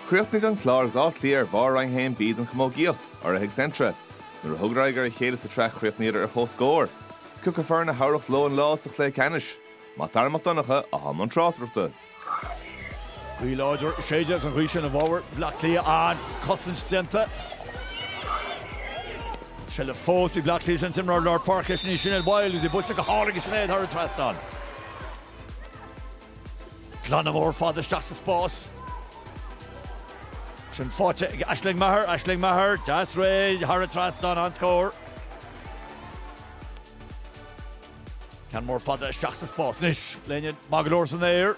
Chríochnaigh an Clár agus Áth Cliath ar bharr Roinn 1B den chamógaíocht, urraithe ag Centra. Nuair a thugadar aghaidh ar a chéile sa tsraith chríochnaíodar ar chomhscór. Cé acu foireann a thabharfadh leo an lá sa chluiche ceannais, Mac Dara Mac Donncha, atá i mbun tráchtaireachta. Gaoth láidir ag séideadh agus an ghaoth sin i bhfabhar Bhleá Cliath ach cosaint déanta. Seilbh fós ag Bleá Cliath an t-imreoir lár páirce ansin Sinéad Wylde agus í buailte go hálainn ag Sinéad thar an trasnán. Glanadh mór fada isteach sa spás. Sin faighte ag Aisling Maher, Aisling Maher, deas réidh thar an trasnán, an-scór. Ceann mór fada isteach sa spás anois, léim maith go leor san aer.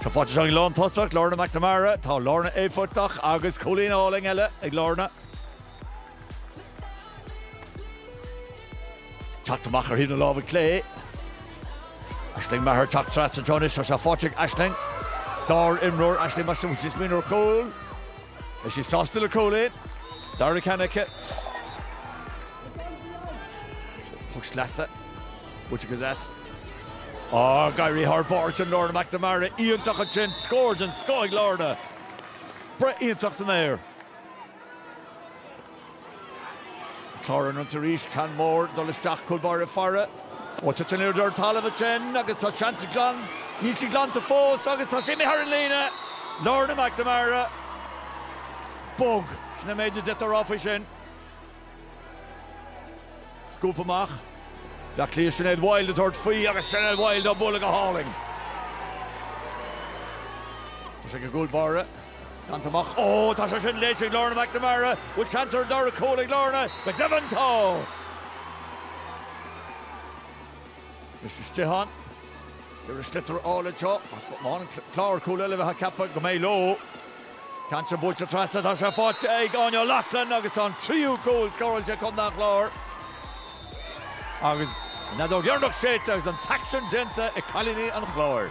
Tá faighte anseo ag an lántosach, Lorna McNamara, tá Lorna éifeachtach agus cúilín álainn eile ag Lorna. Teacht amach ar thaobh na láimhe clé, Aisling Maher ag teacht trasna anseo anois agus tá faighte ag Aisling. Sár-imreoir Aisling Maher, bhí sí ag smaoineamh ar chúl. Beidh sí sásta le cúilín. An dara ceann aici. Puc sleasa, buailte go deas. Ag éirí thar barr ansin Lorna McNamara, iontach ansin, scór den scoth ag Lorna. Breith iontach san aer. Clár ar an ionsaí arís, ceann mór ag dul isteach cúl báire ag faire. Ó, titeann liathróid ar an talamh ansin agus tá seans glan, níl sí glanta fós agus tá sí imithe thar an líne! Lorna McNamara, bog. Sin an méid is féidir a rá faoi sin. Scúp amach. Bleá Cliath, Sinéad Wylde ag tabhairt faoi agus Sinéad Wylde á bualadh go hálainn. Tá sé ag an gcúl báire. Glanta amach. Ó, tá sé sin léite ag Lorna McNamara. Bhfuil chance ar an dara cúl ag Lorna? Go deimhin tá! Misha Stihan. Arís sliotar álainn seo. Má fhaigheann an Clár cúl eile bheifeá ag ceapadh go mbeidh leo. Ceann deas buailte trasna, tá sé faighte ag Áine O'Loughlin agus tá an tríú cúl scóráilte ag Contae an Chláir agus an fheadóg dheireanach séidte agus an t-aicsean déanta ag cailíní an Chláir.